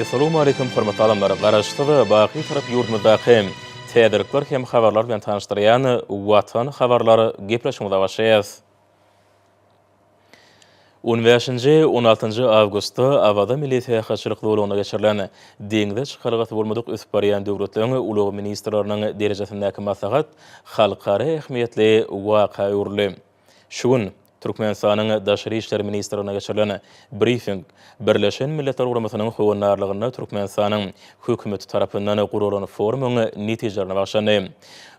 Essalawmaleýkim hormatly adamlar! Garaşsyz, baky Türk ýurdumyzdaky täzelikler hem habarlar bilen tanyşdyrýan Watan habarlar gepleşigimize başlaýarys. On bäşinji, on altynjy awgustda Awaza milli syýahatçylyk zolagynda geçirilen Deňze çykalgasy bolmadyk ösüp barýan döwletleriň ulag ministrleriniň derejesindäki maslahat halkara ähmiýetli waka öwrüldi. Şu gün Türkmenistanyň Daşary işler ministrliginde geçirilen brifing Birleşen Milletler Guramasynyň howandarlygynda Türkmenistanyň Hökümeti tarapyndan guralan forumyň netijelerine bagyşlandy.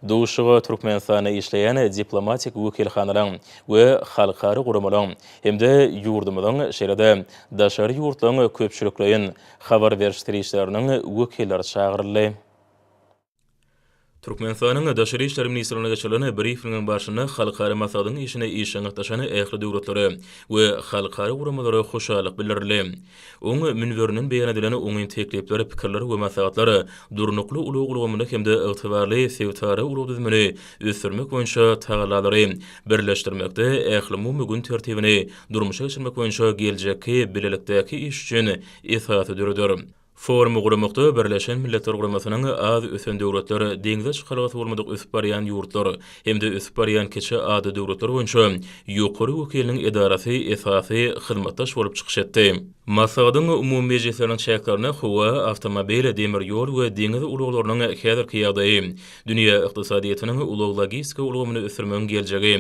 Duşuşyga Türkmenistanda işleýän diplomatik wekilhanalaryň we halkara guramalaryň hem-de ýurdumyzyň, şeýle-de daşary ýurtlaryň köpçülikleýin habar beriş serişdeleriniň wekilleri çagyryldy. Türkmenistanyň Daşary işler ministrliginde geçirilen brifingiň barşynda halkara maslahatyň işine işjeň gatnaşan ähli döwletlere we halkara guramalara hoşallyk bildirildi. Oň münberinden beýan edilen oňyn teklipler, pikirler we maslahatlar durnukly ulag ulgamyny hem-de ygtybarly sebitara ulag düzümini ösdürmek boýunça tagallalary birleşdirmekde ählumumy gün tertibini durmuşa geçirmek boýunça geljekki bilelikdäki iş üçin esasy döreder. Forumy guramakda Birleşen Milletler Guramasynyň Az ösen döwletler, deňze çykalgasy bolmadyk ösüp barýan ýurtlar hem-de ösüp barýan kiçi ada döwletler boýunça ýokary wekiliniň edarasy esasy hyzmatdaş bolup çykyş etdi. Maslahatyň umumy mejlisleriniň çäklerinde howa, awtomobil, demir ýol we deňiz ulaglarynyň häzirki ýagdaýy, dünýä ykdysadyýetiniň ulag-logistika ulgamyny ösdürmegiň geljegi,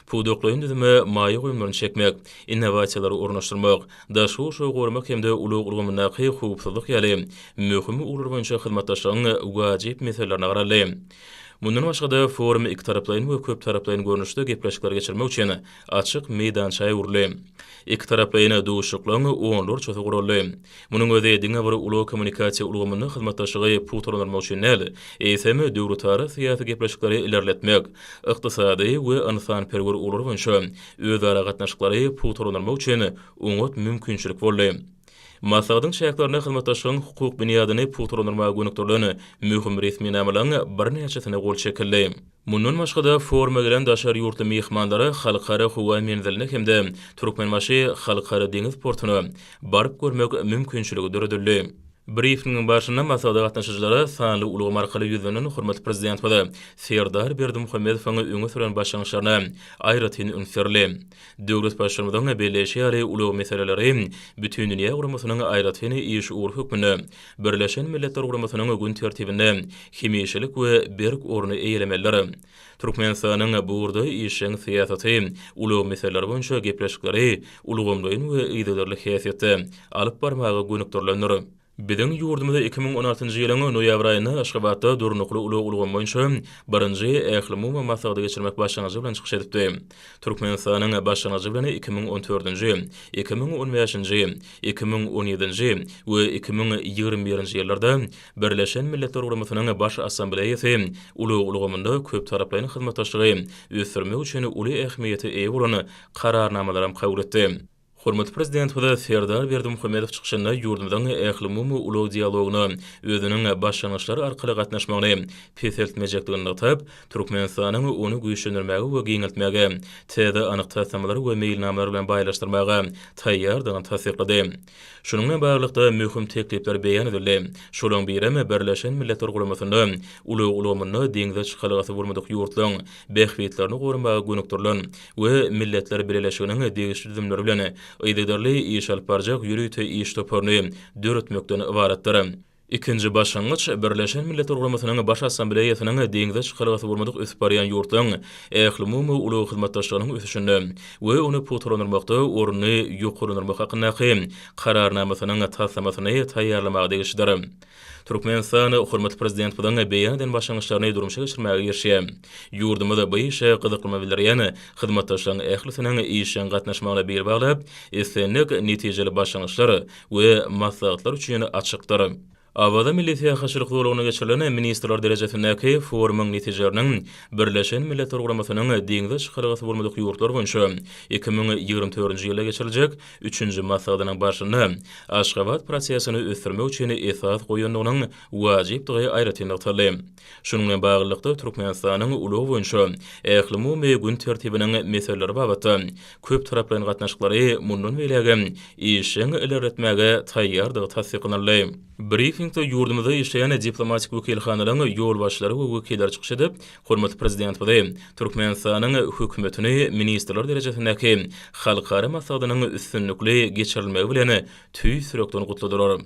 pudaklaýyn düzüme maýa goýumlaryny çekmek, innowasiýalary ornaşdyrmak, daşky gurşawy goramak hem-de ulag ulgamyndaky howpsuzlyk ýaly möhüm ugurlar boýunça hyzmatdaşlygyň wajyp meselelerine garaldy. Mundan başga-da, forum ikitaraplaýyn we köptaraplaýyn görnüşde gepleşikleri geçirmek üçin açyk meýdança öwrüldi. Ikitaraplaýyn duşuşyklaryň onlarçasy guraldy. Munuň özi diňe bir ulag-kommunikasiýa ulgamynda hyzmatdaşlygy pugtalandyrmak üçin däl, eýsem, döwletara syýasy gepleşikleri ilerletmek, ykdysady we ynsanperwer ugurlar boýunça özara gatnaşyklary pugtalandyrmak üçin oňat mümkinçilik boldy. Maslahatyň çäklerinde hyzmatdaşlygyň hukuk binýadyny pugtalandyrmaga gönükdirilen möhüm resminamalaryň birnäçesine gol çekildi. Mundan başga-da, foruma gelen daşary ýurtly myhmanlar Halkara howa menziline hem-de Türkmenbaşy Halkara deňiz portuna baryp görmek mümkinçiligi döredildi. Brifingiň barşynda maslahata gatnaşyjylara sanly ulgam arkaly ýüzlenen hormatly Prezidentimiz Serdar Berdimuhamedowyň öňe süren başlangyçlaryna aýratyn üns berildi. Döwlet Baştutanymyzyň belleýşi ýaly, ulag meseleleri bütindünýä guramasynyň aýratyn iş ugry hökmünde Birleşen Milletler Guramasynyň gün tertibinde hemişelik we berk orny eýelemelidir. Türkmenistanyň bu ugurda işjeň syýasaty, ulag meseleleri boýunça gepleşikleri ulgamlaýyn we yzygiderli häsiýetde alyp barmaga gönükdirilendir. Biziň ýurdumyz iki müň on altynjy ýylyň noýabr aýynda Aşgabatda Durnukly ulag ulgamy boýunça birinji Ählumumy maslahaty geçirmek başlangyjy bilen çykyş edipdi. Türkmenistanyň başlangyjy bilen iki müň on dördünji, iki müň on bäşinji, iki müň on ýedinji we iki müň ýigrimi birinji ýyllarda Birleşen Milletler Guramasynyň Baş Assambleýasy ulag ulgamynda köptaraplaýyn hyzmatdaşlygy ösdürmek üçin uly ähmiýete eýe bolan Kararnamalaram kabul etdi. Hormatly Prezidentimiz Serdar Berdimuhamedow çykyşynda ýurdumyzyň ählumumy ulag dialogyna özüniň başlangyçlar arkaly gatnaşmagyny peseltmejekdigini nygtap, Türkmenistanyň ony güýçlendirmäge we giňeltmäge, täze anyk taslamalar we meýilnamalar bilen baýlaşdyrmaga taýýardygyny tassyklady. Şunuň bilen baglylykda, möhüm teklipler beýan edildi. Şolaryň birem, Birleşen Milletler Guramasynda ulag ulgamynda deňze çykalgasy bolmadyk ýurtlaryň bähbitlerini goramaga gönükdirilen we Milletler Bileleşiginiň degişli düzümleri bilen yzygiderli iş alyp barjak ýörite iş toparyny döretmekden ybaratdyr. Ikinji başlangyç, Birleşen Milletler Guramasynyň Baş Assambleýasynyň deňze çykalgasy bolmadyk ösüp barýan ýurtlaryň ählumumy ulag hyzmatdaşlygynyň ösüşinde we ony pugtalandyrmakda ornuny ýokarlandyrmak hakyndaky Kararnamasynyň taslamasyny taýýarlamaga degişlidir. Türkmenistan hormatly Prezidentimiziň beýan eden başlangyçlaryny durmuşa geçirmäge girişýär. Ýurdumyz bu işe gyzyklanma bildirýän hyzmatdaşlaryň ählisiniň işjeň gatnaşmagyna bil baglap, islendik netijeli başlangyçlar we maslahatlar üçin açykdyr. Awaza milli syýahatçylyk zolagynda geçirilen ministrler derejesindäki forumyň netijeleriniň Birleşen Milletler Guramasynyň Deňze çykalgasy bolmadyk ýurtlar boýunça iki müň ýigrimi dördünji ýylda geçiriljek üçünji maslahatynyň barşynda Aşgabat prosesini ösdürmek üçin esas goýandygynyň wajypdygy aýratyn nygtaldy. Şunuň bilen baglylykda, Türkmenistanyň ulag boýunça ählumumy gün tertibiniň meseleleri babatda köptaraplaýyn gatnaşyklary mundan beýlägem işjeň ilerletmäge taýýardygy tassyklanyldy. Brifingde ýurdumyzda işleýän diplomatik wekilhanalaryň ýolbaşçylary we wekilleri çykyş edip, hormatly Prezidentimizi, Türkmenistanyň Hökümetini ministrler derejesindäki halkara maslahatynyň üstünlikli geçirilmegi bilen tüýs ýürekden gutladylar.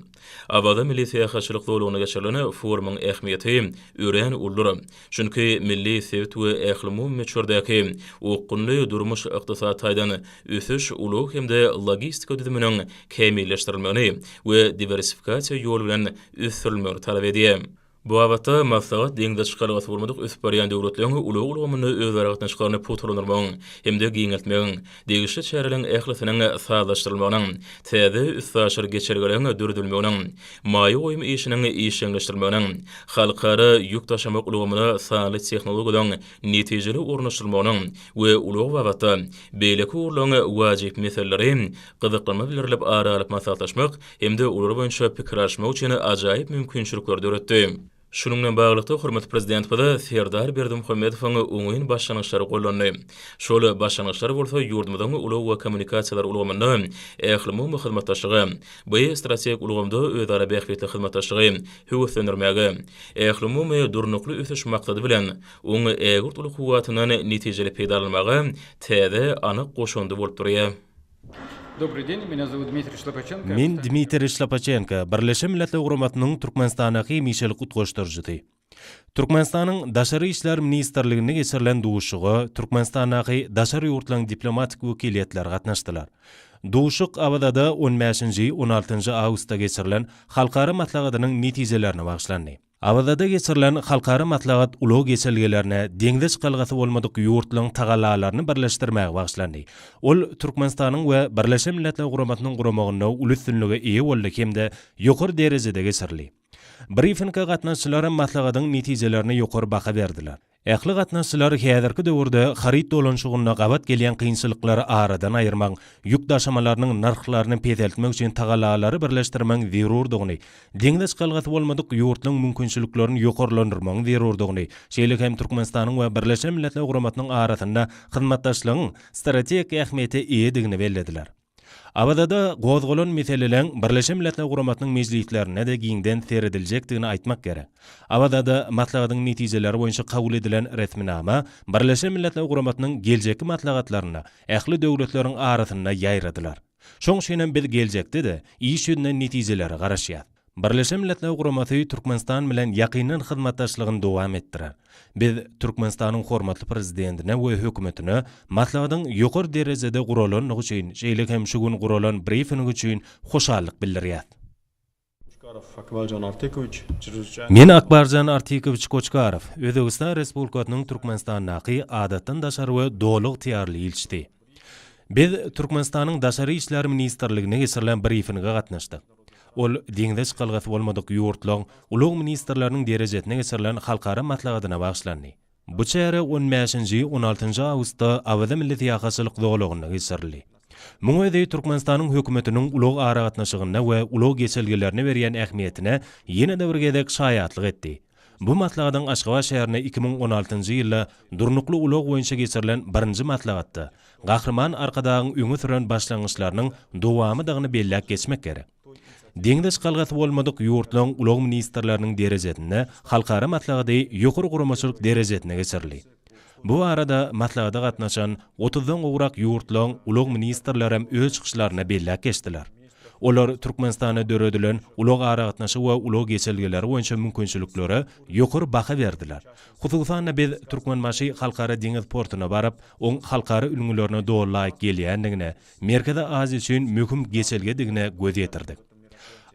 Awaza milli syýahatçylyk zolagynda geçirilen forumyň ähmiýeti örän uludyr. Çünki milli, sebit we ählumumy möçberdäki okgunly durmuş-ykdysady taýdan ösüş, ulag hem-de logistika düzüminiň kämilleşdirilmegini we diwersifikasiýa ýoly bilen ösdürilmegini talap edýär. Bu babatda maslahat deňze çykalgasy bolmadyk ösüp barýan döwletleriň ulag ulgamynda özara gatnaşyklaryny pugtalandyrmagyň hem-de giňeltmegiň, degişli çäreleriň ählisiniň sazlaşdyrylmagynyň, täze üstaşyr geçelgeleriň döredilmeginiň, maýa goýum işiniň işjeňleşdirilmeginiň, halkara ýük daşamak ulgamyna sanly tehnologiýalaryň netijeli ornaşdyrylmagynyň we ulag babatda beýleki ugurlaryň wajyp meseleleri gyzyklanma bildirilip ara alyp maslahatlaşmak hem-de olar boýunça pikir alyşmak üçin ajaýyp mümkinçilikleri döretdi. Şunuň bilen baglylykda, hormatly Prezidentimiz Serdar Berdimuhamedowyň oňyn başlangyçlary gollandy. Şol başlangyçlar bolsa ýurdumyzyň ulag we kommunikasiýalar ulgamynda ählumumy hyzmatdaşlygy, bi strategik ulgamda özara bähbitli hyzmatdaşlygy höweslendirmäge, ählumumy Durnukly ösüş maksady bilen oň ägirt uly kuwwatyndan netijeli peýdalanmaga täze anyk goşandy bolup durýar. Dobry deň, mena zowut Dmitriý Şlapaçenko. Men Dmitriý Şlapaçenko, Birleşen Milletler Guramasynyň Türkmenistandaky hemişelik utgaşdyryjysy. Türkmenistanyň Daşary işler ministrliginde geçirilen duşuşyga Türkmenistandaky daşary ýurtlaryň diplomatik wekiliýetleri gatnaşdylar. Duşuşyk Awazada on bäşinji, on altynjy awgustda geçirilen halkara maslahatynyň netijelerine bagyşlandy. Awazada geçirilen halkara maslahat ulag geçelgelerine deňze çykalgasy bolmadyk ýurtlaryň tagallalaryny birleşdirmäge bagyşlandy. Ol Türkmenistanyň we Birleşen Milletler Guramasynyň guramagynda uly üstünlige eýe boldy hem-de ýokary derejede geçirildi. Brifinge gatnaşyjylar maslahatyň netijelerine ýokary baha berdiler. Ähli gatnaşyjylar häzirki döwürde haryt dolanyşygynda gabat gelýän kynçylyklary aradan aýyrmagyň, ýük daşamalarynyň nyrhlaryny peseltmek üçin tagallalary birleşdirmegiň zerurdygyny, deňze çykalgasy bolmadyk ýurtlaryň mümkinçiliklerini ýokarlandyrmagyň zerurdygyny, şeýle hem Türkmenistanyň we Birleşen Milletler Guramasynyň arasynda hyzmatdaşlygyň strategik ähmiýete eýedigini bellediler. Awazada gozgalan meseleleň Birleşen Milletler Guramasynyň mejlislerinde-de giňden serediljekdigini aýtmak gerek. Awazada maslahatyň netijeleri boýunça kabul edilen resminama Birleşen Milletler Guramasynyň geljekki maslahatlarynda ähli döwletleriň arasynda ýaýradylar. Şoň üçinem biz geljekde-de iş ýüzünden netijelere garaşýas. Birleşen Milletler Guramasy Türkmenistan bilen ýakyndan hyzmatdaşlygyny dowam etdirer. Biz Türkmenistanyň hormatly Prezidentine we Hökümetine maslahatyň ýokary derejede guralandygy üçin, şeýle hem şu gün guralan brifing üçin hoşallyk bildirýäs. Men, Akbarjan Artikowiç Koçkarow, Özbegistan Respublikasynyň Türkmenistandaky Adatdan daşary we Doly ygtyýarly ilçisi. Biz Türkmenistanyň Daşary işler ministrliginde geçirilen brifinge gatnaşdyk. Ol deňze çykalgasy bolmadyk ýurtlaryň ulag ministrleriniň derejesinde geçirilen halkara maslahatyna bagyşlandy. Bu çäre on bäşinji, on altynjy awgustda Awaza milli syýahatçylyk zolagynda geçirildi. Muň özi Türkmenistanyň hökümetiniň ulag aragatnaşygyna we ulag geçelgelerine berýän ähmiýetine ýene-de bir gezek şaýatlyk etdi. Bu maslahatyň Aşgabat şäherinde iki müň on altynjy ýylda Durnukly ulag boýunça geçirilen birinji maslahatda Gahryman Arkadagyň öňe süren başlangyçlarynyň dowamydygyny belläp geçmek gerek. Deňze çykalgasy bolmadyk ýurtlaryň ulag ministrleriniň derejesinde halkara maslahaty ýokary guramaçylyk derejesinde geçirildi. Bu barada maslahata gatnaşan otuzdan gowrak ýurtlaryň ulag ministrlerem öz çykyşlarynda belläp geçdiler. Olar Türkmenistanda döredilen ulag-aragatnaşyk we ulag geçelgeleri boýunça mümkinçiliklere ýokary baha berdiler. Hususan-da, biz Türkmenbaşy Halkara deňiz portuna baryp, oň halkara ülňülerine doly laýyk gelýändigine, Merkezi Aziýa üçin möhüm geçelgedigine göz ýetirdik.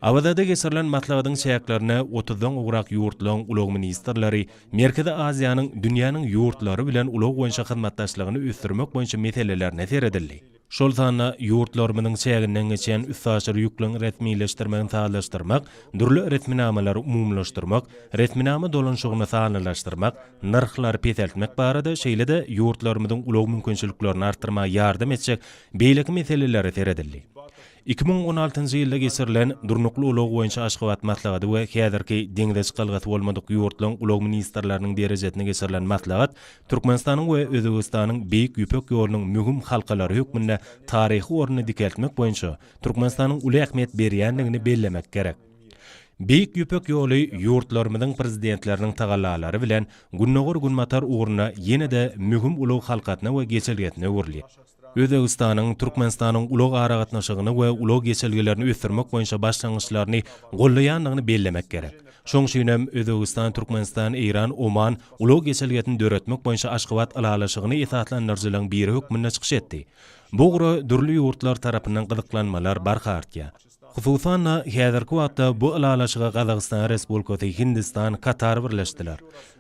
Awazada geçirilen maslahatyň çäklerine otuzdan gowrak ýurtlaryň ulag ministrleri Merkezi Aziýanyň dünýäniň ýurtlary bilen ulag boýunça hyzmatdaşlygyny ösdürmek boýunça meselelerine seredildi. Şol sanda ýurtlarymyzyň çäginden geçýän üstaşyr ýükleň resmileşdirmegini sazlaşdyrmak, dürli resminamalary umumylaşdyrmak, resminama dolanyşygyny sanlylaşdyrmak, nyrhlary peseltmek barada, şeýle-de ýurtlarymyzyň ulag mümkinçiliklerini artdyrmaga ýardam etjek beýleki meselelere seredildi. Iki müň on altynjy ýylda geçirilen Durnukly ulag boýunça Aşgabat maslahaty we häzirki deňze çykalgasy bolmadyk ýurtlaryň ulag ministrleriniň derejesinde geçirilen maslahat Türkmenistanyň we Özbegistanyň Beýik Ýüpek ýolunyň möhüm halkalary hökmünde taryhy ornuny dikeltmek boýunça Türkmenistanyň uly ähmiýet berýändigini bellemek gerek. Beýik Ýüpek ýoly ýurtlarymyzyň Prezidentleriniň tagallalary bilen Gündogar-Günbatar ugrunda ýene-de möhüm ulag halkasyna we geçelgesine öwrülýär. Özbegistanyň Türkmenistanyň ulag aragatnaşygyny we ulag geçelgelerini ösdürmek boýunça başlangyçlaryny goldaýandygyny bellemek gerek. Şoň üçin hem Özbegistan-Türkmenistan-Eýran-Oman ulag geçelgesini döretmek boýunça Aşgabat ylalaşygyny esaslandyryjylaryň biri hökmünde çykyş etdi. Bu ugra dürli ýurtlar tarapyndan gyzyklanmalar barha artýar. Hususan-da, häzirki wagtda bu ylalaşyga Gazagystan Respublikasy, Hindistan, Katar birleşdiler.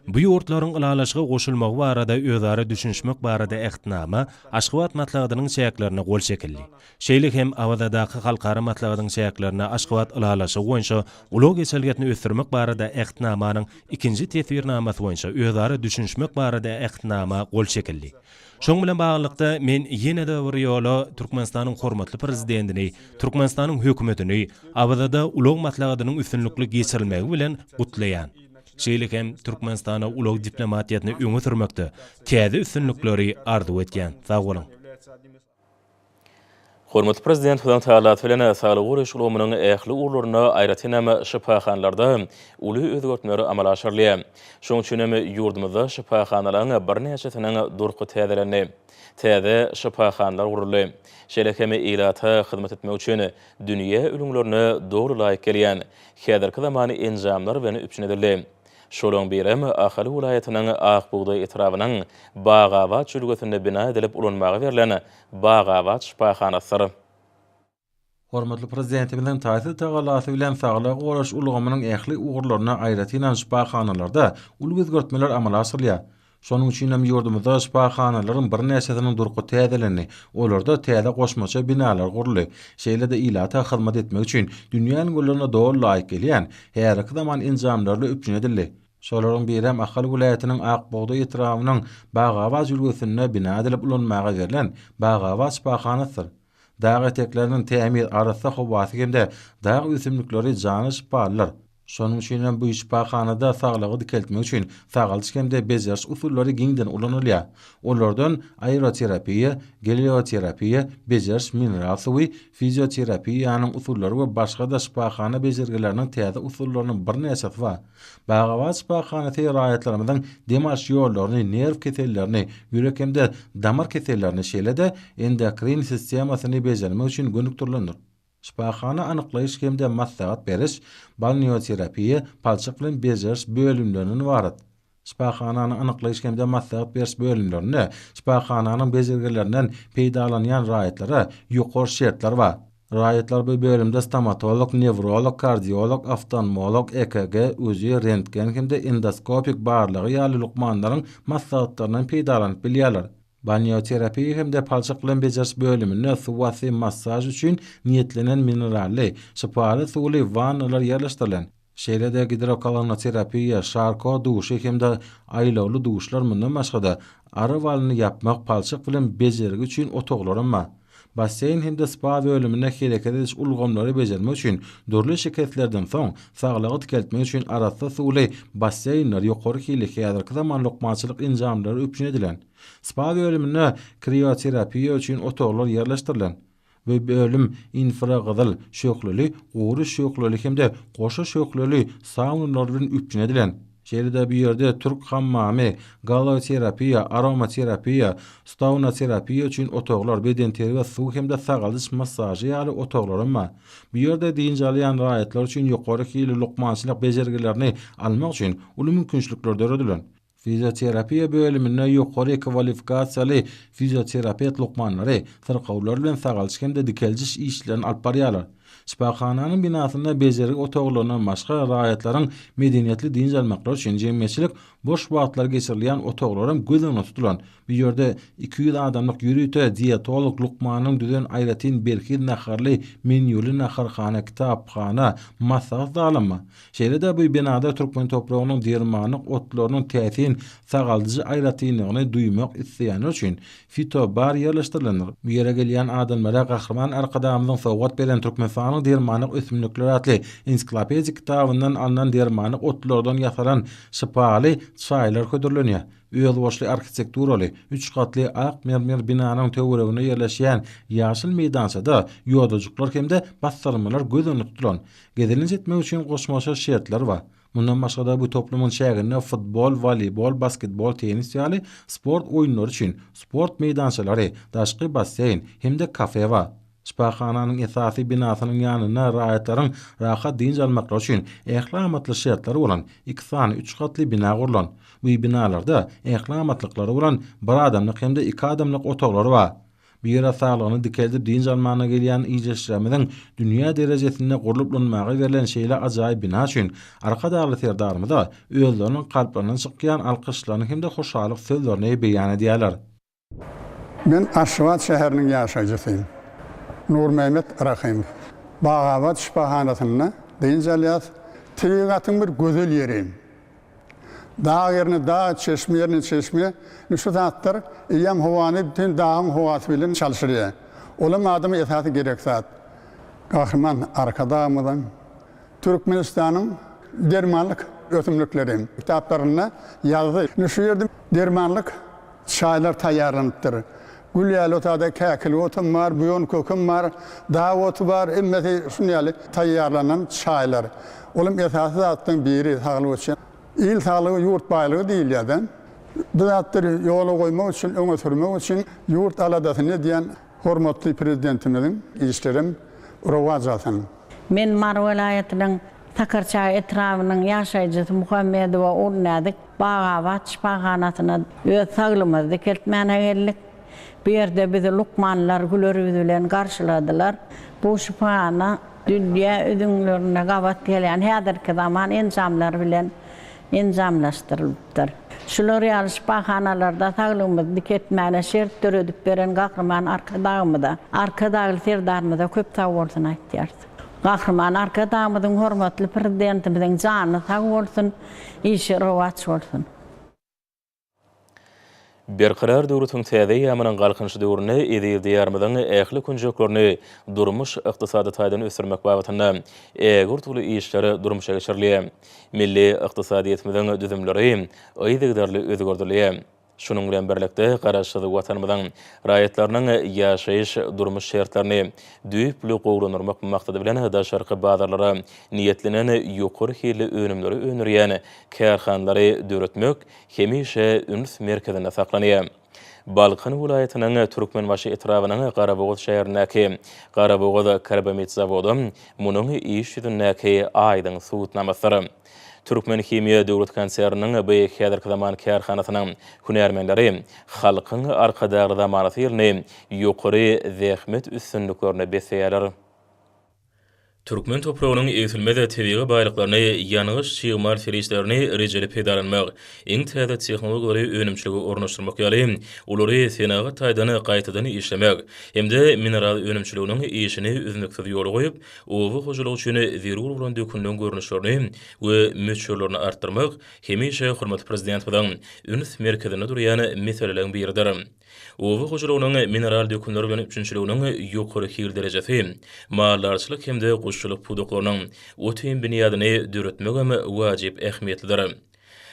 Bu ýurtlaryň ylalaşyga goşulmagy barada özara düşünişmek barada Ähtnama Aşgabat maslahatynyň çäklerinde gol çekildi. Şeýle hem Awazadaky halkara maslahatyň çäklerinde Aşgabat ylalaşygy boýunça ulag geçelgesini ösdürmek barada Ähtnamanyň ikinji teswirnamasy boýunça özara düşünişmek barada Ähtnama gol çekildi. Şonuň bilen baglylykda, men ýene-de bir ýola Türkmenistanyň hormatly Prezidentini, Türkmenistanyň Hökümetini Awazada ulag maslahatynyň üstünlikli geçirilmegi bilen gutlaýan. Şeýle hem Türkmenistana ulag diplomatiýasyny öňe sürmekde täze üstünlikleri arzuw etýän. Sag boluň! Hormatly Prezidentimiziň tagallasy bilen saglygy goraýyş ulgamynyň ähli ugurlarynda, aýratynam, şypahanalarda uly özgertmeler amala aşyrylýar. Şonuň üçin hem ýurdumyzda şypahanalaryň birnäçesiniň durky täzelendi, täze şypahanalar guruldy. Şeýle hem ilata hyzmat etmek üçin dünýä ülňülerine doly laýyk gelýän häzirki zaman enjamlar bilen üpjün edildi. Şolaryň biri hem Ahal welaýatynyň Akbugdaý etrabynyň Bagabat jülgesinde bina edilip ulanmaga berlen Bagabat şypahanasydyr. Hormatly Prezidentimiziň taýsyz tagallasy bilen saglygy goraýyş ulgamynyň ähli ugurlarynda, aýratynam şypahanalarda uly özgertmeler amala aşyrylýar. Şonuň üçin hem ýurdumyzda şypahanalaryň birnäçesiniň durky täzelendi, olarda täze goşmaça binalar guruldy. Şeýle-de ilata hyzmat etmek üçin dünýä ülňülerine doly laýyk gelýän, häzirki zaman enjamlarly üpjün edildi. Şolaryň biri hem Ahal welaýatynyň Ak bugdaý etrabynyň Bagabat jülgesinde bina edilip ulanmaga berlen Bagabat şypahanasydyr. Dag etekleriniň tämiz, arassa howasy hem-de dag ösümlikleri jana şypalydyr. Şonuň üçin hem bu şypahanada saglygy dikeltmek üçin sagaldyş hem-de bejeriş usullary giňden ulanylýar. Olardan aeroterapiýa, gelioterapiýa, bejeriş mineral suwy, fizioterapiýanyň usullary we başga-da şypahana bejergileriniň täze usullarynyň birnäçesi bar. Bagabat şypahanasy raýatlarymyzyň dem alyş ýollaryny, nerw kesellerini, ýürek hem-de damar kesellerini, şeýle-de endokrin sistemasyny bejermek üçin gönükdirilendir. Şypahana anyklaýyş hem-de maslahat beriş, balneoterapiýa, palçyk bilen bejeriş bölümlerinden ybarat. Şypahananyň anyklaýyş hem-de maslahat beriş bölümlerinde şypahananyň bejergilerinden peýdalanýan raýatlara ýokary şertler bar. Raýatlar bu bölümde stomatolog, newrolog, kardiolog, oftalmolog, EKG, UZI, rentgen hem-de endoskopik barlagy ýaly lukmanlaryň maslahatlaryndan peýdalanyp bilýärler. Balneoterapiýa hem-de palçyk bilen bejeriş bölüminde suwasty massaž üçin niýetlenen minerally, şypaly suwly wannalar ýerleşdirilen. Şeýle-de gidrokolonoterapiýa, Şarko duşy hem-de aýlawly duşlar mundan başga-da, ary walyny ýapmak, palçyk bilen bejergi üçin otaglaram bar. Basseýn hem-de spa bölüminde hereket ediş ulgamlary bejermek üçin dürli şikeslerden soň saglygy dikeltmek üçin arassa suwly basseýnler, ýokary hilli häzirki zaman lukmançylyk enjamlary üpjün edilen. Spa bölüminde krioterapiýa üçin otaglar ýerleşdirilen. Bu bölüm infragyzyl şöhleli, gury şöhleli hem-de goşa şöhleli saunalary bilen üpjün edilen. Şeýle-de bu ýerde türk hammamy, galloterapiýa, aromaterapiýa, staunaterapiýa üçin otaglar, bedenterbiýe, suw hem-de sagaldyş massažy ýaly otaglaram bar. Bu ýerde dynç alýan raýatlar üçin ýokary hilli lukmançylyk bejergilerini almak üçin uly mümkinçilikler döredilen. Fizioterapiýa bölüminde ýokary kwalifikasiýaly fizioterapewt lukmanlary syrkawlar bilen sagalyş hem-de dikeldiş işlerini alyp barýarlar. Şypahananyň binasynda bejergi otaglaryndan başga raýatlaryň medeniýetli dynç almaklary üçin jemgyýetçilik boş wagtlary geçirilýän otaglaram göz öňünde tutulan. Bu ýerde iki ýüz adamlyk ýörite dietolog lukmanyň düzen aýratyn berhiz naharly menýuly naharhana, kitaphana, maslahat zalymy? Şeýle-de bu binada türkmen topragynyň dermanlyk otlarynyň täsin sagaldyjy aýratynlygyny duýmak isleýänler üçin fitobar ýerleşdirilendir. Bu ýere gelýän adamlara Gahryman Arkadagymyzyň sowgat beren Türkmenistanyň dermanlyk ösümlikleri atly ensiklopedik kitabyndan alnan dermanlyk otlardan ýasalan şypaly çaýlar hödürlenýär. Özboluşly arhitekturaly, üç gatly ak mermer binanyň töwereginde ýerleşýän ýaşyl meýdançada ýodajyklar hem-de bassyrmalar göz öňünde tutulan, gezelenç etmek üçin goşmaça şertler bar. Mundan başga-da bu toplumyň çäginde futbol, woleýbol, basketbol, tennis ýaly sport oýunlary üçin sport meýdançalary, daşky basseýn hem-de kafe bar. Şypahananyň esasy binasynyň ýanynda raýatlaryň rahat dynç almaklary üçin ähli amatly şertler bolan iki sany üç gatly bina gurlan. Bu binalarda ähli amatlyklar bolan bir adamlyk hem-de iki adamlyk otaglar bar. Bu ýere saglygyny dikeldip dynç almana gelýän ildeşlerimiziň dünýä derejesinde gurlup lynmaga berlen şeýle ajaýyp bina üçin Arkadagly Serdarymyza özleriniň kalplaryndan çykýan alkyşlaryny hem-de hoşallyk sözlerini beýan edýärler. Men Aşgabat şäheriniň ýaşaýjysy Nurmämmet Rahymow. Bagabat şypahanasynda dynç alýas. Tebigatyň bir gözel ýeri. Dag ýerine dag, çeşme ýerine çeşme. Ine şu zatlar eýýäm howany bütin dagyň howasy bilen çalşyrýar. Olam adama esasy gerek zat. Gahryman Arkadagymyzyň, Türkmenistanyň dermanlyk ösümlikleri kitaplarynda ýazdy. Ine şu ýerde dermanlyk Çaýlar taýýarlanypdyr. Gül ýaly otagda käkilik otum bar, buýan kökem bar, dag oty bar, hemmesi şuny ýaly taýýarlanan çaýlar. Olam esasy zatlaryň biri saglyk üçin. Il saglygy, ýurt baýlygy diýilýär-de. Bu zatlary ýola goýmak üçin, öňe sürmek üçin ýurt aladasyny edýän Hormatly Prezidentimiziň işlerem rowaç alsyn! Men Mary welaýatynyň Sakarçaý etrabynyň ýaşaýjysy Muhammedowa Urnäzik Bagabat şypahanasyna öz saglymyzy dikeltmäne geldik. Bu ýerde bizi lukmanlar güler ýüz bilen garşyladylar. Bu şypahana dünýä üzňlerinde gabat gelýän häzirki zaman enjamlary bilen enjamlaşdyrylypdyr. Şular ýaly şypahanalarda saglygymyzy dik etmäne şert döredip beren Gahryman Arkadagymyza, Arkadagly Serdarymyza köp sag bolsun aýtýarys. Gahryman Arkadagymyzyň, hormatly Prezidentimiziň jany sag bolsun, işi rowaç bolsun! Berkarar döwletiň täze eýýamynyň Galkynyş döwründe eziz Diýarymyzyň ähli künjeklerini durmuş-ykdysady taýdan ösdürmek babatynda ägirt uly işler durmuşa geçirilýär. Milli ykdysadyýetimiziň düzümleri yzygiderli özgerdilýär. Şunuň bilen birlikde, Garaşsyz Watanymyzyň raýatlarynyň ýaşaýyş, durmuş şertlerini düýpli gowulandyrmak maksady bilen daşarky bazarlara niýetlenen ýokary hilli önümleri öndürýän kärhanalary döretmek hemişe üns merkezinde saklanýar. Balkan welaýatynyň Türkmenbaşy etrabynyň Garabogaz şäherindäki Garabogaz karbamid zawody munuň iş ýüzündäki aýdyň subutnamasydyr. Türkmenhimiýa döwlet konserniniň bu häzirki zaman kärhanasynyň hünärmenleri Halkyň Arkadagly zamanasy ýylyny ýokary zähmet üstünliklerine besleýärler. Türkmen topragynyň egsilmez tebigy baýlyklaryny, ýangyç-çig mal serişdelerini rejeli peýdalanmak, iň täze tehnologiýalary önümçilige ornaşdyrmak ýaly, olary senagat taýdan gaýtadan işlemek hem-de mineral önümçiliginiň işini üznüksiz ýola goýup, oba hojalygy üçin zerur bolan dökünleriň görnüşlerini we möçberlerini artdyrmak hemişe hormatly Prezidentimiziň üns merkezinde durýan meseleleriň biridir. Oba hojalygynyň mineral dökünler bilen üpjünçiliginiň ýokary hil derejesi, maldarçylyk hem-de guşçulyk pudaklarynyň otin binýadyny döretmegem wajyp ähmiýetlidir.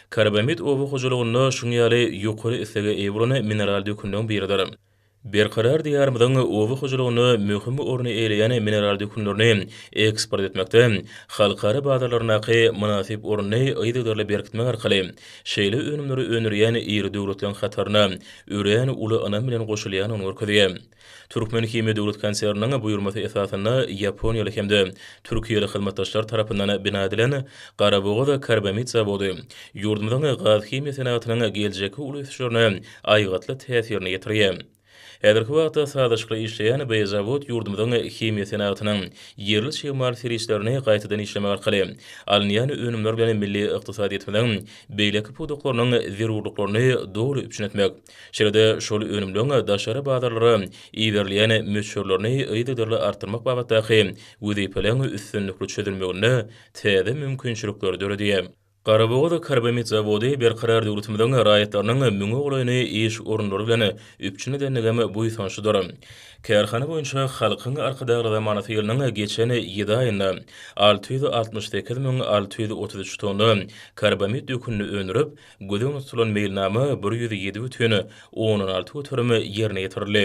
Karbamid oba hojalygynda şuň ýaly ýokary islege eýe bolan mineral dökünleň biridir. Berkarar Diýarymyzyň oba hojalygynda möhüm orny eýleýän mineral dökünlerini eksport etmekde, halkara bazarlaryndaky mynasyp ornuny yzygiderli berkitmek arkaly şeýle önümleri öndürýän iri döwletleriň hataryna örän uly ynam bilen goşulýandygyny görkezýär. Türkmenhimiýa döwlet konserniniň buýurmasy esasynda ýaponiýaly hem-de türkiýeli hyzmatdaşlar tarapyndan bina edilen Garabogaz karbamid zawody ýurdumyzyň gazhimiýa senagatynyň geljekki uly ösüşlerine aýgytly täsirini ýetirýär. Häzirki wagtda sazlaşykly işleýän bu zawod ýurdumyzyň himiýa senagatynyň ýerli çig mal serişdelerini gaýtadan işlemek arkaly alynýan önümler bilen milli ykdysadyýetimiziň beýleki pudaklarynyň zerurlyklaryny doly üpjün etmek, şeýle-de şol önümleň daşary bazarlara iberilýän möçberlerini yzygiderli artdyrmak babatdaky wezipeleň üstünlikli çözülmeginde täze mümkinçilikleri döredýär. Garabogaz karbamid zawody Berkarar döwletimiziň raýatlarynyň müňe golaýyny iş orunlary bilen üpjün edendigem buýsançlydyr. Kärhana boýunça Halkyň Arkadagly zamanasy ýylynyň geçen ýedi aýynda alty ýüz altmyş sekiz müň alty ýüz otuz üç tonna karbamid dökünini öndürip, göz öňünde tutulan meýilnama bir ýüz ýedi bütin ondan alty göterim ýerine ýetirildi.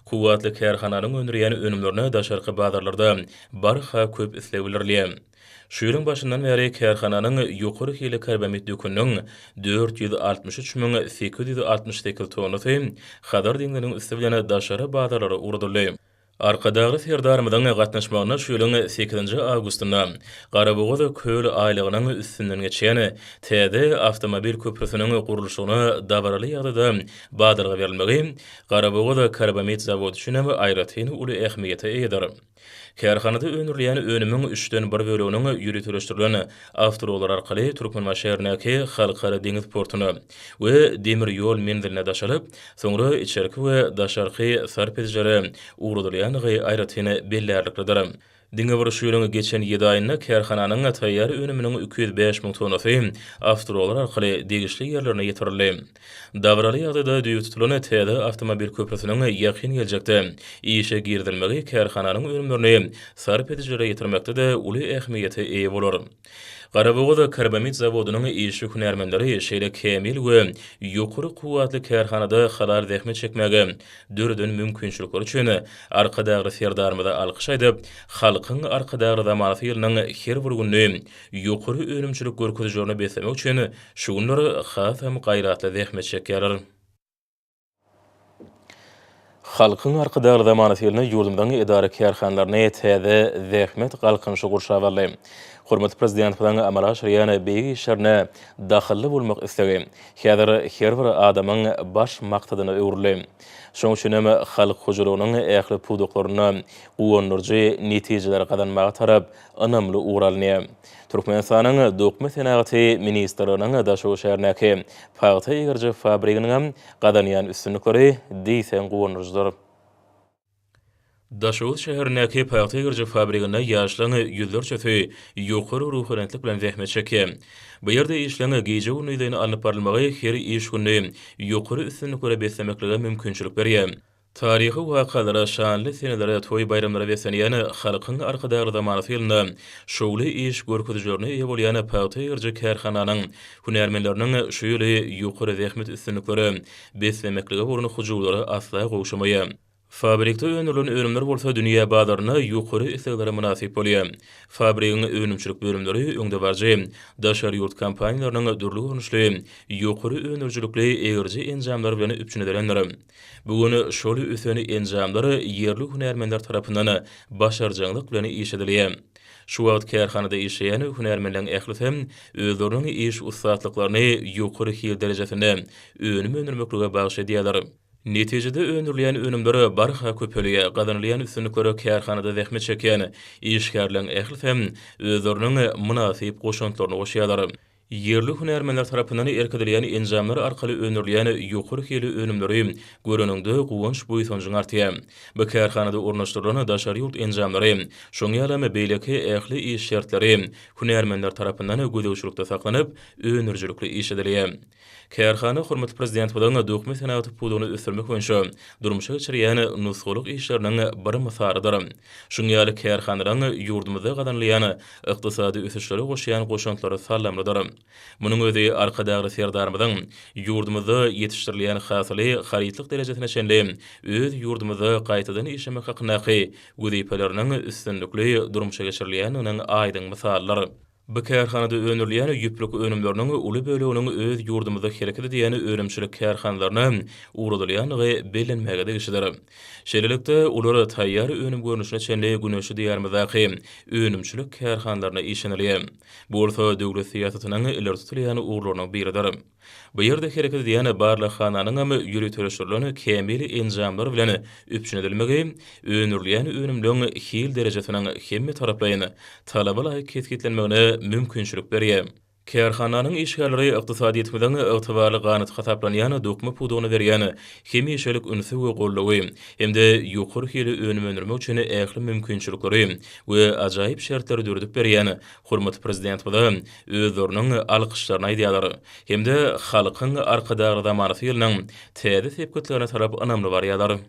Kuwwatly kärhananyň öndürýän önümlerine daşarky bazarlarda barha köp isleg bildirilýär. Şu ýylyň başyndan bäri kärhananyň ýokary hilli karbamid döküniniň dört ýüz altmyş üç müň sekiz ýüz altmyş sekiz tonnasy Hazar deňziniň üsti bilen daşary bazarlara ugradyldy. Arkadagly Serdarymyzyň gatnaşmagynda şu ýylyň sekizinji awgustynda Garabogaz köl aýlagynyň üstünden geçýän täze awtomobil köprüsiniň gurluşygyna dabaraly ýagdaýda badalga berilmegi Garabogaz karbamid zawody üçin hem aýratyn uly ähmiýete eýedir. Kärhanada öndürilýän önümiň üçden bir böleginiň ýöriteleşdirilen awtoulaglar arkaly Türkmenbaşyýerindäki Halkara deňiz portuna we demir ýol menziline daşalyp, soňra içerki we daşarky sarp edijilere ugradylýandygy aýratyn bellärliklidir. Diňe bir şu ýylyň geçen ýedi aýynda kärhananyň taýýar önüminiň iki ýüz bäş müň tonnasy awtoulaglar arkaly degişli ýerlerine ýetirildi. Dabaraly ýagdaýda düýe tutulan täze awtomobil köprüsiniň ýakyn geljekde işe girizilmegi kärhananyň önümlerini sarp edijilere ýetirmekde-de uly ähmiýete eýe bolar. Garabogaz karbamid zawodynyň işçi hünärmenleri şeýle kämil we ýokary kuwwatly kärhanada halal zähmet çekmäge döreden mümkinçilikleri üçin Arkadagly Serdarymyza alkyş aýdyp, Halkyň Arkadagly zamanasy ýylynyň her bir gününi ýokary önümçilik görkezijilerine beslemek üçin Şu günler has hem gaýratly zähmet çekýärler. Halkyň Arkadagly zamanasy ýylynda ýurdumyzyň edara-kärhanalaryny täze zähmet galkynyşy gurşap aldy. Hormatly Prezidentimiziň amala aşyrýan beýik işlerine dahylly bolmak islegi häzir her bir adamyň baş maksadyna öwrüldi. Şonuň üçin hem halk hojalygynyň ähli pudaklarynda guwandyryjy netijeleri gazanmaga tarap ynamly ugur alny. Türkmenistanyň Dokma senagaty ministrliginiň Daşoguz şäherindäki pagta egiriji fabriginiňem gazanýan üstünlikleri diýseň guwandyryjydyr. Daşoguz şäherindäki pagta egiriji fabriginde ýaşlaryň ýüzlerçesi ýokary ruhubelentlik bilen zähmet çekýär. Bu ýerde işleň gije-gündizeýin alnyp barylmagy her iş gününi ýokary üstünliklere beslemeklige mümkinçilik berýär. Taryhy wakalara, şanly senelere, toý-baýramlara beslenýän Halkyň Arkadagly zamanasy ýylynda şowly iş görkezijilerine eýe bolýan pagta egeriji kärhananyň hünärmenleriniň şu ýyly ýokary zähmet üstünliklere beslemeklige bolan hyjuwlary asla gowşamaýar. Fabrikde öndürilen önümler bolsa dünýä bazarynda ýokary isleglere mynasyp bolýar. Fabrigiň önümçilik bölümleri öňdebaryjy daşary ýurt kompaniýalarynyň dürli görnüşli ýokary öndürijilikli egeriji enjamlary bilen üpjün edilendir. Bu gün şol ösen enjamlar ýerli hünärmenler tarapyndan başarjaňlyk bilen işledilýär. Şu wagt kärhanada işleýän hünärmenleriň ählisi özleriniň iş ussatlyklaryny ýokary hil derejesinde önüm öndürmeklige bagyş edýärler. Netijede öndürilýän önümler barha köpelýär, gazanylýan üstünlikler kärhanada zähmet çekýän işgärleriň ählisi özleriniň mynasyp goşantlaryny goşýarlar. Ýerli hünärmenler tarapyndan irkidilýän enjamlar arkaly öndürilýän ýokary hilli önümleri göreniňde guwanç-buýsanjyň artýar. Bu kärhanada ornaşdyrylan daşary ýurt enjamlary, şoň ýalam beýleki ähli iş şertleri hünärmenler tarapyndan gözegçilikde saklanyp, öndürijilikli iş edilýär. Kärhana hormatly Prezidentimiziň dokma senagaty pudagyny ösdürmek boýunça durmuşa geçirýän nusgalyk işleriniň bir mysalydyr. Şuň ýaly kärhanalaryň ýurdumyzda gazanylýan ykdysady ösüşlere goşýan goşantlary sallamlydyr. Munuň özi Arkadagly Serdarymyzyň ýurdumyzda ýetişdirilýän hasyly harytlyk derejesine çenli öz ýurdumyzda gaýtadan işlemek hakyndaky wezipeleriniň üstünlikli durmuşa geçirilýändiginiň aýdyň mysalydyr. Bu kärhanada öndürilýän ýüplük önümleriniň uly böleginiň öz ýurdumyzda hereket edýän önümçilik kärhanalaryna ugradylýandygy bellenmäge degişlidir. Şeýlelikde, olar taýýar önüm görnüşine çenli güneşli Diýarymyzdaky önümçilik kärhanalaryna işlenilýär. Bu bolsa döwlet syýasatynyň ileri tutulýan ugurlarynyň biridir. Bu ýerde hereket edýän barlaghananyňam ýöriteleşdirilen kämil enjamlar bilen üpjün edilmegi, öndürilýän önümleriň hil derejesiniň hemmetaraplaýyn, talaba laýyk kesgitlenmegine mümkinçilik berýär. Kärhananyň işgärleri ykdysadyýetimiziň ygtybarly ganaty hasaplanýan dokma pudagyna berýän hemişelik ünsi we goldawy hem-de ýokary hilli önüm öndürmek üçin ähli mümkinçilikleri we ajaýyp şertleri döredip berýän hormatly Prezidentimize özleriniň alkyşlaryny aýdýarlar hem-de halkyň Arkadagly zamanasy ýylynyň täze sepgitlerine tarap ynamly barýarlar.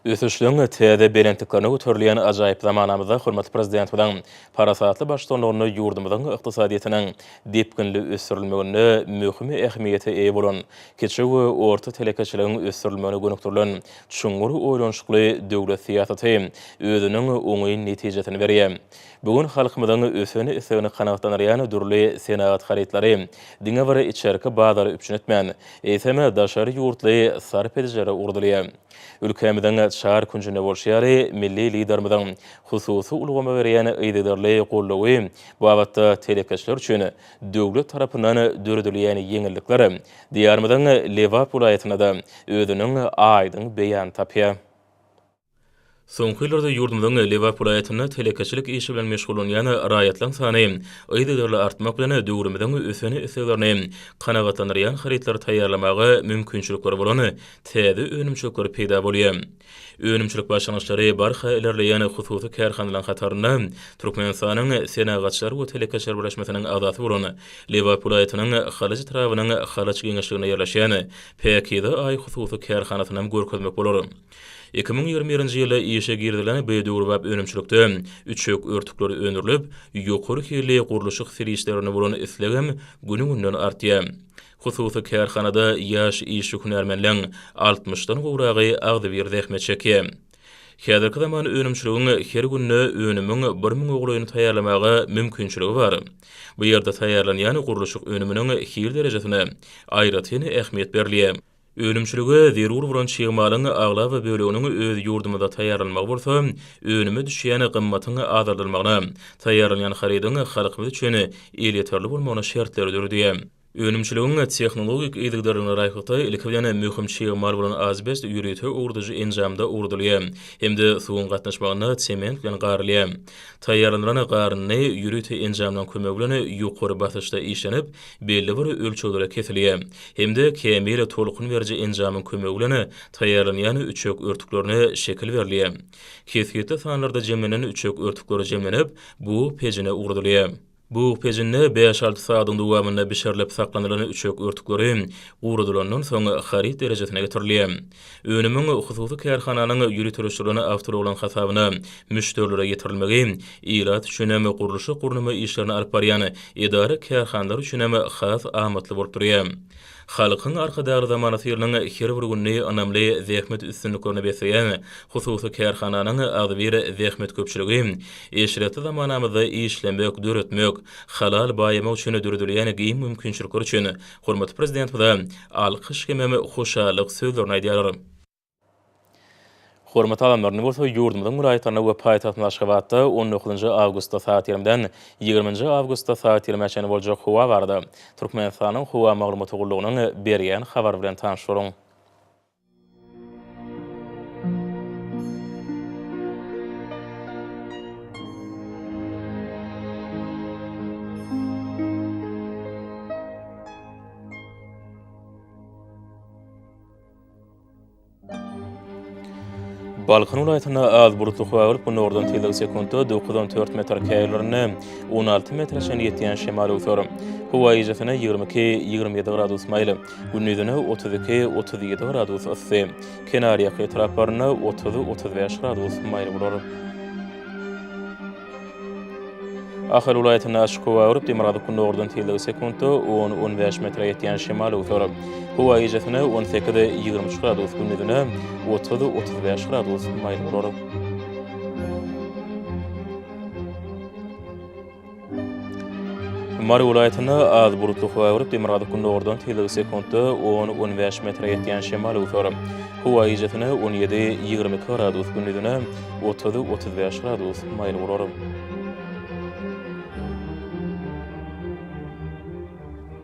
Ösüşligiň täze belentliklerine göterilýän ajaýyp zamanamyzda hormatly Prezidentimiziň parasatly baştutanlygynda ýurdumyzyň ykdysadyýetiniň depginli ösdürilmeginde möhüm ähmiýete eýe bolan kiçi we orta telekeçiligiň ösdürilmegine gönükdirilen çuňňur oýlanyşykly döwlet syýasaty özüniň oňyn netijesini berýär. Bu gün halkymyzyň ösen islegini kanagatlandyrýan dürli senagat harytlary diňe bir içerki bazary üpjün etmän, eýsem, daşary ýurtly sarp edijilere ugradylýar. Ülkämiziň çar künjünde bolşy ýaly, milli Liderimiziň hususy ulgama berýän yzygiderli goldawy babatda telekeçiler üçin döwlet tarapyndan döredilýän ýeňillikler Diýarymyzyň Lebap welaýatynda-da özüniň aýdyň beýanyny tapýar. Soňky ýyllarda ýurdumyzyň Lebap welaýatynda telekeçilik işi bilen meşgullanýan raýatlaryň sany yzygiderli artmak bilen, döwrümiziň ösen isleglerini kanagatlandyrýan harytlary taýýarlamaga mümkinçilikleri bolan täze önümçilikler peýda bolýar. Önümçilik başlangyçlary barha ilerleýän hususy kärhanalaryň hatarynda Türkmenistanyň Senagatçylar we telekeçiler birleşmesiniň agzasy bolan Lebap welaýatynyň Halaç etrabynyň Halaç geňeşliginde ýerleşýän Päkize Aý hususy kärhanasynam görkezmek bolar. Iki müň ýigrimi birinji ýylda işe girizilen bu döwrebap önümçilikde üçek örtükleri öndürilip, ýokary hilli gurluşyk serişdelerine bolan islegem güni-günden artýar. Hususy kärhanada ýaş işçi-hünärmenleriň altmyşdan gowragy agzybir zähmet çekýär. Häzirki zaman önümçiligiň her günde önümiň bir müň ugleýini taýýarlamaga mümkinçiligi bar. Bu ýerde taýýarlanýan gurluşyk önüminiň hil derejesine aýratyn ähmiýet berilýär. Önümçilige zerur bolan çig malyň aglaba böleginiň öz ýurdumyzda taýýarlanmagy bolsa, önüme düşýän gymmatyň azaldylmagyna, taýýarlanýan harydyň halkymyz üçin elýeterli bolmagyna şertleri döredi. Önümçiligiň tehnologik yzygiderligine laýyklykda, ilki bilen, möhüm çig mal bolan azbest ýörite owradyjy enjamda owradylýar hem-de suwuň gatnaşmagynda sement bilen garylýar. Taýýarlandylan garyndy ýörite enjamlaryň kömegi bilen ýokary basyşda işlenip, belli bir ölçeglere kesilýär hem-de kämil tolkun beriji enjamyň kömegi bilen taýýarlanýan üçek örtüklerine şekil berilýär. Kesgitli sanlarda jemlenen üçek örtükleri jemlenip, bug pejine ugradylýar. Bug pejinde bäş-alty sadyň dowamynda bişirilip saklanylan üçek örtükleri guradylandan soň haryt derejesine getirilýär. Önümiň hususy kärhananyň ýöriteleşdirilen awtoulagynyň hasabyna müşderilere ýetirilmegi ilat üçin hem, gurluşyk-gurnama işlerini alyp barýan edara-kärhanalar üçin hem has amatly bolup durýar. Halkyň Arkadagly zamanasy ýylynyň her bir gününi ynamly zähmet üstünliklerine besleýän hususy kärhananyň agzybir zähmetköpçüligi eşretli zamanamyzda işlemek, döretmek, halal baýamak üçin döredilýän giň mümkinçilikler üçin Hormatly Prezidentimize alkyş hemem hoşallyk sözlerini aýdýarlar. Hormatly adamlaryny bolsa ýurdumyzyň welaýatlarynda we paýtagtymyz Aşgabatda on dokuzynjy awgustda sagat ýigrimiden ýigriminji awgustda sagat ýigrime çenli boljak howa barada Türkmenistanyň Howa maglumat ugurlygynyň berýän habary bilen tanyşdyryň. Balkan welaýatynda az bulutly howa bolup, günordan tizligi sekuntda dokuz on dört metr, käýerlerinde on alty metre çenli ýetýän şemal öwser. Howa eýjesine ýigrimi iki, ýigrimi ýedi gradus maýyl. Gündizine otuz iki, otuz ýedi gradus yssy, kenarýaka etraplarynda otuz, otuz bäş gradus maýyl bolar. Ahal welaýatynda açyk howa agyryp, demirgazyk-gündogardan tizligi sekuntda on, on bäş metre ýetýän şemal öwser. Howa gijesine on sekiz, ýigrimi üç gradus, gündizine otuz, otuz bäş gradus maýyl bolar. Mary welaýatynda az bulutly howa öwrüp, demirgazyk-gündogardan tizligi sekuntda on, on bäş metre ýetýän şemal öwser. Howa gijesine on ýedi, ýigrimi iki gradus, gündizine otuz, otuz bäş gradus maýyl bolar.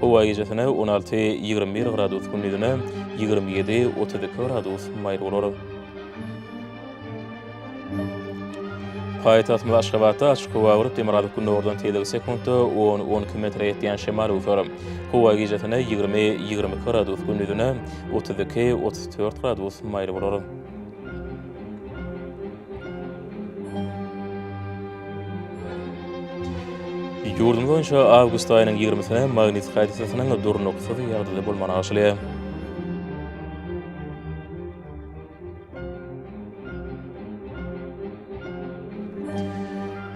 Howa gijesine on alty, ýigrimi bir gradus, gündizine ýigrimi ýedi, otuz iki gradus maýyl bolar. Paýtagtymyz Aşgabatda açyk howa bolup, demirgazyk gündogardan tizligi sekuntda on, on iki metre ýetýän şemal öwser. Howa gijesine ýigrimi, ýigrimi iki gradus, gündizine otuz iki, otuz dört gradus maýyl bolar. Ýurdumyz boýunça awgust aýynyň ýigrimisine magnit hadysasynyň durnuksyz ýagdaýda bolmagyny garşylaýar.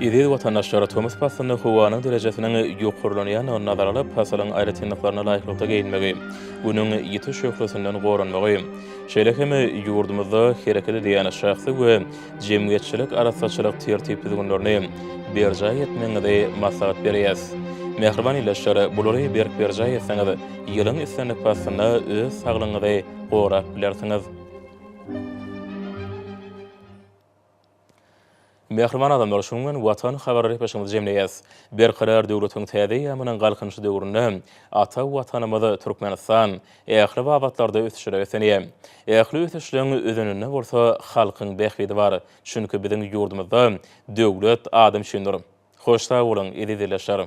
Eziz watandaşlar, tomus paslynda howanyň derejesiniň ýokarlanýandygyny nazara alyp, pasylyň aýratynlyklaryna laýyklykda geýinmegi, Günüň ýiti şöhlesinden goranmagy, Şeýle hem ýurdumyzda hereket edýän şahsy we jemgyýetçilik arassaçylyk tertip-düzgünlerini berjaý etmegiňizi maslahat berýäs. Mähriban ildeşler, bulary berk berjaý etseňiz, ýylyň islendik paslynda öz saglygyňyzy gorap bilersiňiz. Mähriban adamlar, şunuň bilen Watan habar repesimizi jemleýäs. Berkarar döwletiň täze eýýamynyň Galkynyşy döwründe ata Watanymyz Türkmenistan ähli babatlarda ösüşlere beslenýär. Ähli ösüşleň özeninde bolsa halkyň bähbidi bar. Çünki biziň ýurdumyzda döwlet adam üçindir. Hoş sag boluň, eziz ildeşler!